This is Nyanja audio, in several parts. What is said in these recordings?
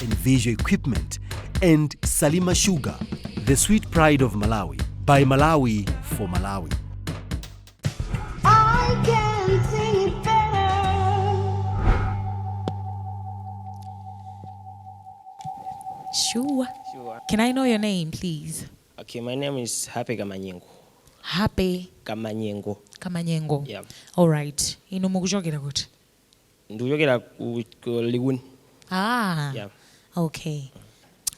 and Visual Equipment, and Salima Sugar, the sweet pride of Malawi, by Malawi for Malawi. I can sing it better. Sure. Sure. Can I know your name, please? Okay, my name is Happy Kamanyengo. Happy Kamanyengo. Kamanyengo. Yeah. All right. Inu mukuchokera kuti? ndikuchokera ku ku Likuni Ah, Yeah. okay.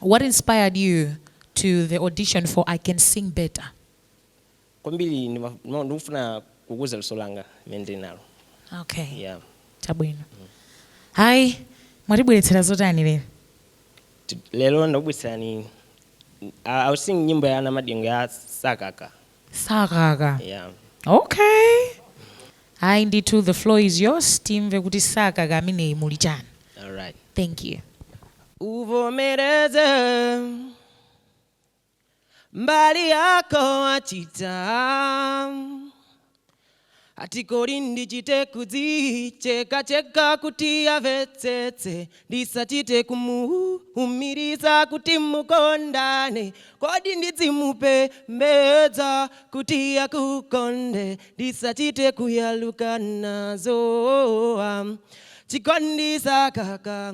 What inspired you to the audition for I Can Sing Better? kwambiri ndima- ndima- ndikufuna kukuza luso langa limene ndili nalo Okay. yeah. Chabwino. Ayi, mwatibweretsera zotani lero? T- lero ndakubweretsani I- I'll sing nyimbo ya Namadingo ya Sakaka Sakaka yeah. okay ayi ndithu the floor is yours timve kuti Sakaka ameneyi muli chani All right. thank you uvomereze mbali yako wachita Ati kodi ndichite kudzichekacheka kuti amvetsetse Ndisachite kumuumiriza kuti mukondane Kodi ndidzimupembedza kuti akukonde Ndisachite kuyaluka nazo ah. Chikondi sakaka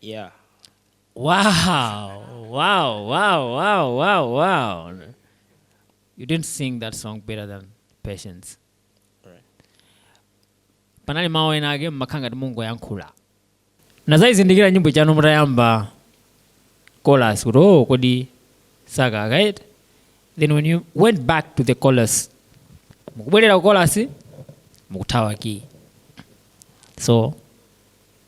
yeah Wow, wow, wow, wow, wow, wow. You didn't sing that song better than Patience. Right. Panali mawu ena ake mmakhala ngati mungoyankhula. Nazayizindikira nyimboyo mutayamba chorus kuti oh kodi Sakaka right? Then when you went back to the chorus mukubwerera ku chorus mukuthawa key. So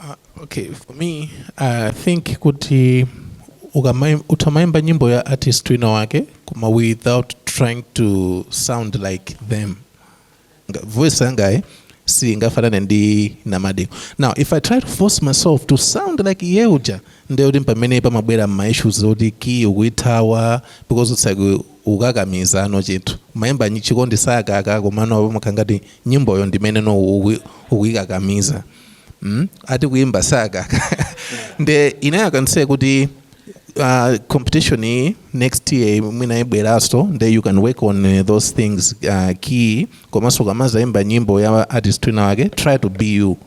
Uh, okay, for me uh, I think kuti utamaimba nyimbo ya artist wina wake koma without trying to sound like them voice yangaye eh? si ngafanane ndi namadeko now if i try to force myself to sound like iye uja ndekuti pamene pamabwera mmaissues oti kiyi ukuyithawa because it's like ukukakamizano chinthu umayimba nyi- chikondi sakaka komano apo umakhala ngati nyimboyo ndimene no uku- ukuyikakamiza mm? ati kuyimba sakaka nde ine I can say kuti uh, competition iyi next year mwina ibweraso nde you can work on uh, those things uh, key komanso ukamazayimba nyimbo ya artist wina wake try to be you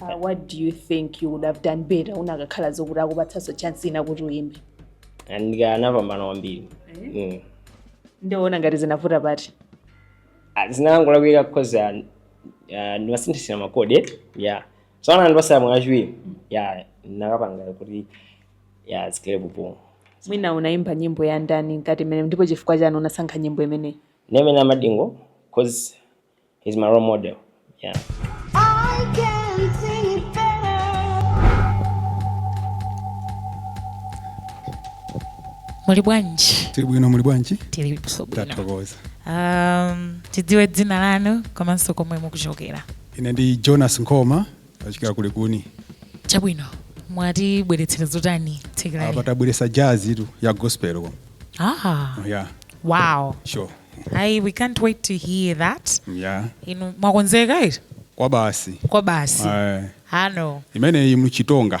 Uh, what do you think you would have done better unakakhala zokuti akupatsaso chance ina kuti uyimbe ndikanapambana kwambiri Mm. Ukuona ngati zinavuta pati Ah, zinangolakwika because ah, ah, ndimasinthasintha makode ya so akanandipatsa mwayi wachiwiri ya ndinakapanga kuti ya zikhale bwino mwina unakayimba nyimbo ya ndani ngati imeneyi ndipo chifukwa chani unasankha nyimbo imeneyi Ndi ya Namadingo because He's my role model. Yeah. muli bwanji tili bwino muli bwanji tili bwino tathokoza um, tidziwe dzina lanu komanso komwe mukuchokera ine ndi Jonas Nkhoma ndachokera ku Likuni chabwino mwatibweretsera zotani tsikuli apa tabweresa jazz-tu ya gospel ko ah, yeah wow sure Ayi, we can't wait to hear that yeah inu mwakonzeka eti kwa basi kwa basi Eh, ano imeneyi m'Chitonga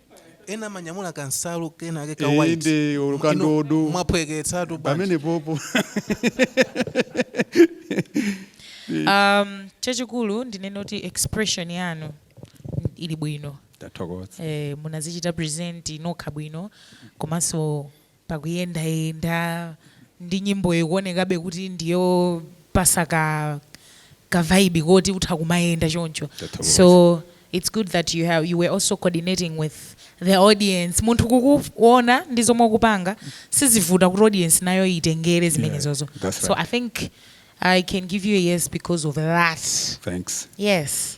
ena amanyamula kansalu kena ake ka Eh, white inde, olo ka Inu ndodo. mwaphweketsatu bwanji? pamenepopo um, chachikulu ndinene kuti expression yanu ili bwino tathokoza eh, munazichita present nokha bwino komanso pakuyendayenda ndi nyimboyo ikuonekabe kuti ndiyopasa ka ka vibe yoti utha kumayenda choncho Tathokoza. so it's good that you, have, you were also coordinating with the audience munthu kukuona ndi zomwe ukupanga sizivuta kuti audience nayo itengere zimenezozo that's so right. i think i can give you a yes because of that thanks yes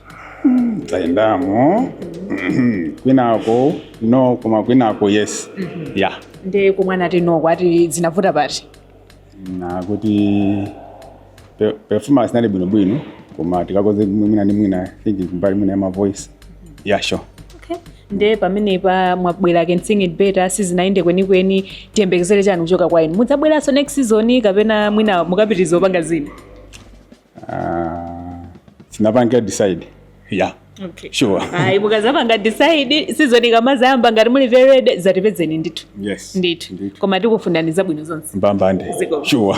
zayendamo kwinako no koma kwinako yes ya nde komwe anati no akuti zinavuta pati anati kuti pe- performance inali bwinobwino koma tikakonze mwina ndi mwina I think kumbali mwina ya ma voice ya sure okay. nde pamenepa mwabwera can sing it better sizinayende kwenikweni tiyembekezere chani kuchoka kwa inu mudzabweranso next season kapena mwina mukapitiriza kupanga zina uh, sindinapange decide yeah okay. sure ayi mukazapanga decide season ikamazayamba ngati muli very ready zatipezeni ndithu yes ndithu koma tikufunirani zabwino zonse mbambande sure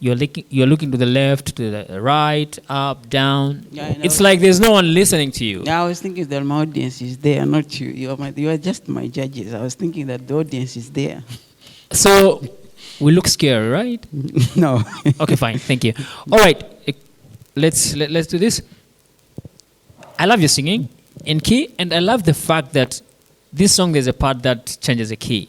you're looking you're looking to the left to the right up down yeah, it's like there's no one listening to you yeah, i was thinking that my audience is there not you you are, my, you are just my judges i was thinking that the audience is there so we look scary right no okay fine thank you all right eh, let's let, us let us do this i love your singing in key and i love the fact that this song there's a part that changes a key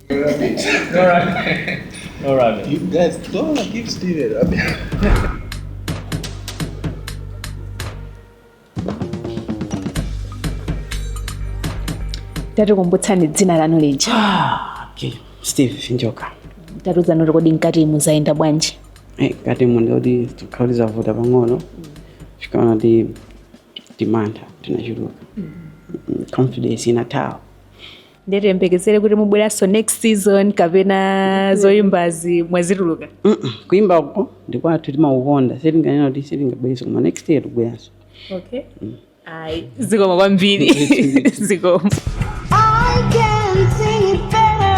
No rabbit. no rabbit. no rabbit. You guys don't give Steve a rabbit. tatikumbutsani dzina lanu lija ah, okay. steve njoka tatiuzani kuti kodi mkatimu zayenda bwanji eh, mkatimu nditi kuti tikhoza kuti zavuta pang'ono mm. ndikaona kuti timantha tinachuluka mm. confidence inathawa ndiye tiyembekezere kuti mubweranso next season kapena zoyimbazi mwazitulukamo Mm-mm. kuimba uko ndikwathu timakukonda sitinganene kuti sitingabwerenso koma next year tibweranso okay ayi zikomo kwambiri zikomo I can sing it better.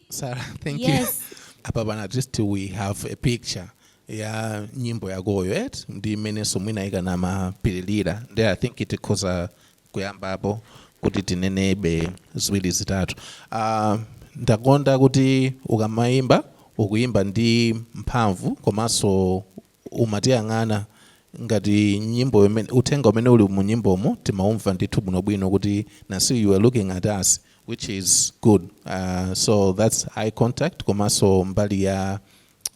Sarah, thank you. Yes. apapa naa at least we have a picture ya nyimbo yakoyo eti ndi m'menenso mwina ikanamapitirira nde i think tikhoza kuyambapo kuti tinenebe ziwiri zitatu uh, ndakonda kuti ukamayimba ukuyimba ndi mphamvu komanso umatiyang'ana ngati nyimboyo imene uthenga umene uli mu nyimbomo timaumva ndithu bwinobwino kuti nasi you are looking at us which is good uh, so that's eye contact komanso mbali ya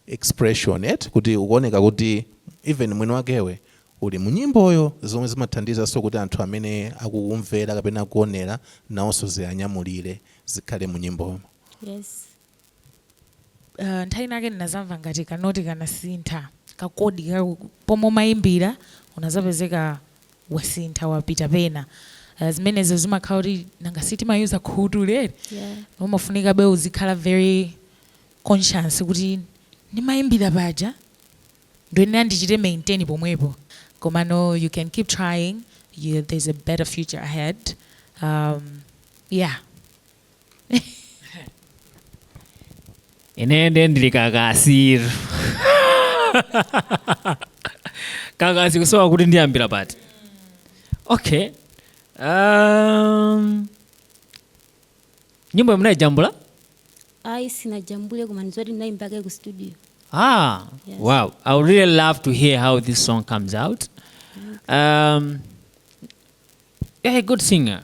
expression eti kuti ukuoneka kuti even mwini wakewe uli mu nyimboyo zomwe zimathandizanso kuti anthu amene akukumvera kapena akuonera nawonso ziwanyamulire zikhale mu nyimbomo yes ah, nthawi inake ndinazamva ngati kanoti kanasintha kakodi ka pomwe umayimbira unazapezeka wasintha wapita pena Ah, zimenezo zimakhala kuti nanga sitimayuza khutu lere Yeah. umafunikabe uzikhala very conscious kuti ndimayimbira paja ndoyenera ndichite maintain pomwepo komano you can keep trying you, there's a better future ahead um, yeah ine nde ndili kakasi kakasi kusowa kuti ndiyambira pati okay um, nyimbo munayijambula ayi sinajambule koma ndi zoti ndinayimbake ku studio ah Yes. wow i would really love to hear how this song comes out um, you're a good singer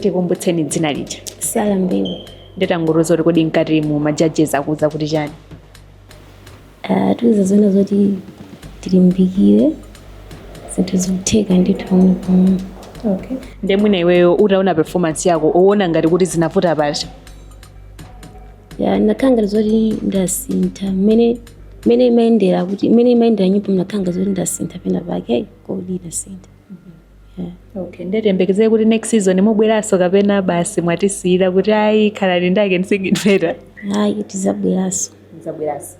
tikumbutseni dzina lija sala mbewu nditangodziwa kuti kodi mkati mu majajezi akuuza kuti chani Atiuza zona zoti tilimbikire zinthu zikutheka ndithu pamwe pamwe okay. nde mwina iweyo utaona performance yako uona ngati kuti zinavuta pati Ya, ndinakhala ngati zoti ndasintha mmene mmene imayendera kuti mmene imayendera nyimbo ndinakhala ngati zoti ndasintha penapake ayi kodi ndasintha Ya. okay nde tiyembekezere kuti next season mubweranso kapena basi mwatisiyira kuti ayi khalani ndake ndisigidveta ayi tizabweranso zabweranso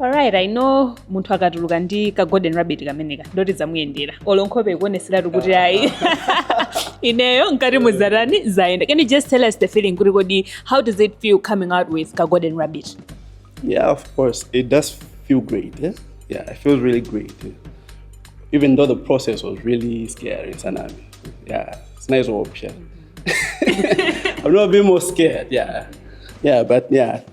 Alright, I know munthu akatuluka ndi ka golden rabbit kameneka ndoti zamuyendera olo nkhope ikuoneseratu kuti ayi ineyo nkati muzatani zayenda can you just tell us the feeling kuti kodi how does it feel coming out with ka golden rabbit Yeah, of course. It does feel great. Eh? Yeah, it feels really great. eh. Even though the process was really scary, Sanami. Yeah, it's nice option. I'm not being more scared. Yeah, yeah, but yeah,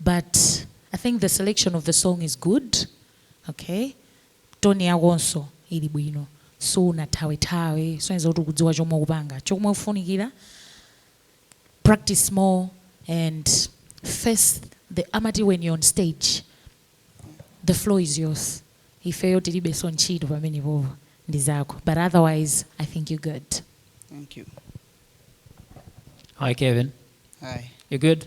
but I think the selection of the song is good okay tone yakonso ili bwino sunathawethawe kusonyeza kuti ukudziwa chomwe ukupanga chomwe ufunikira practice more and face the amati when you're on stage the floor is yours ifeyo tilibenso ntchito pamenepo ndi zako but otherwise i think you're good Thank you. Hi, Kevin. Hi. You good?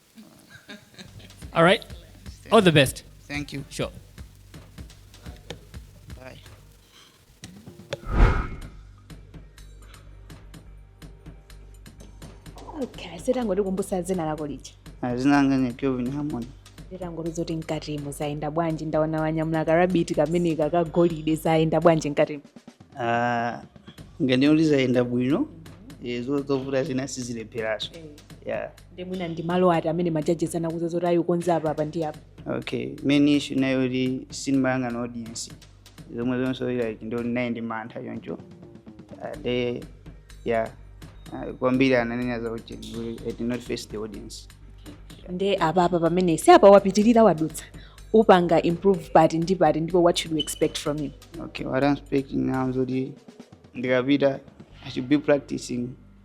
All right. All the best. Thank you. Sure. Okay, utangotikumbutsa dzina lako lija. Dzina langa ndi Kevin Harmon. Utangotiuza zoti mkatimo zaenda bwanji ndaona wanyamula karabiti kameneka kagolide zaenda bwanji mkatimo. Ah, mkatimo zaenda bwino. Ezo eh, zovuta zina sizilepheranso. Eh. Yeah. nde mwina ndi malo ati amene majajesi anakuuza zoti ayi ukonze apa apa ndi apa okay main issue inali yoti sindimayang'ana audience zomwe zonso like ndinali ndi mantha choncho Ah, nde ya ah, kwambiri ananena za ujeni we- I did not face the audience nde apa apa pamene si apa wapitirira wadutsa upanga improve pati ndi pati ndipo what should we expect from you okay what I'm expecting now zoti ndikapita I should be practicing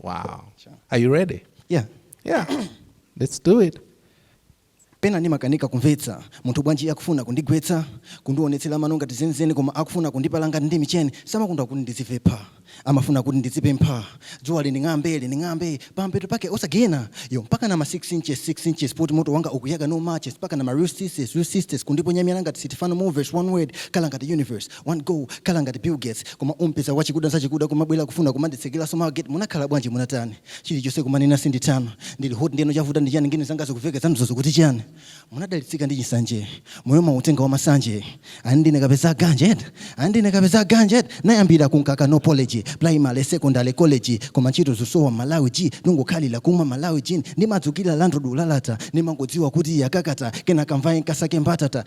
Wow. Sure. Are you ready? Yeah. Yeah. Let's do it. pena ndimakanika kumvetsa munthu bwanji akufuna kundigwetsa kundionetsera mano ngati zenizeni koma akufuna kundipala ngati ndi micheni samakonda kuti ndizipepha amafuna kuti ndizipempha dzuwa linding'ambe linding'ambe pampeto pake osagena yo mpaka na ma 6 inches 6 inches poti moto wanga ukuyaka no matches mpaka na ma real sisters real sisters kundiponyamira ngati sitifano movers one word khala ngati universe 1 go khala ngati Bill Gates koma umpeza wachikuda zachikuda kumabwela kufuna kumanditsekera somehow get munakhala bwanji munatani chilichonse kumanena sindithana ndili hot ndeno chavuta ndi chani ngini zanga zikumveka zanuzo zikuti chani munadalitsika ndi chisanje moyo mautenga wa masanje ani ndine kapeza ganja eti ani ndine kapeza ganja eti nayambira kumkaka no apology primary secondary college koma ntchito zosowa malawi g ndingokhalira kumwa malawi gin ndimadzukira landlord kulalata ndimangodziwa kuti yakakata kena kamvaye nkasake mbatata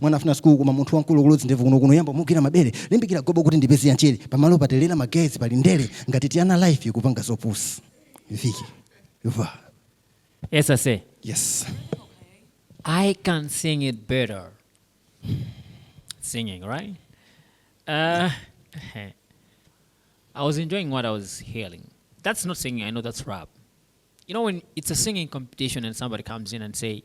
Mwana afuna sukulu koma munthu wamkulu kuloza ndevu kuno kuno yamba mugwira mabere limbikira gobo kuti ndipeze ya nchere pamalo patelera magaye pali ndere ngati tiana life ikupanga zopusa viki va Yes I say, yes I can sing it better. Singing, right? Uh, I was enjoying what I was hearing. That's not singing, I know that's rap. You know, when it's a singing competition and somebody comes in and say,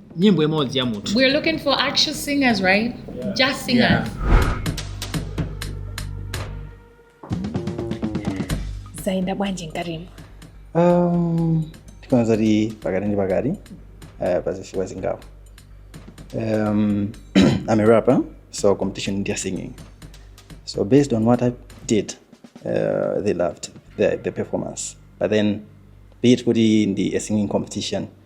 nyimbo imodzi ya munthu We're looking for actual singers, right? Just singers. Yeah. zayenda bwanji mkatimo Um, tikhoza kuti pakati ndi pakati uh, pazifukwa zingapo um, i'm a rapper so competition ndi ya singing so based on what i did uh, they loved the, the performance but then be it kuti ndi a singing competition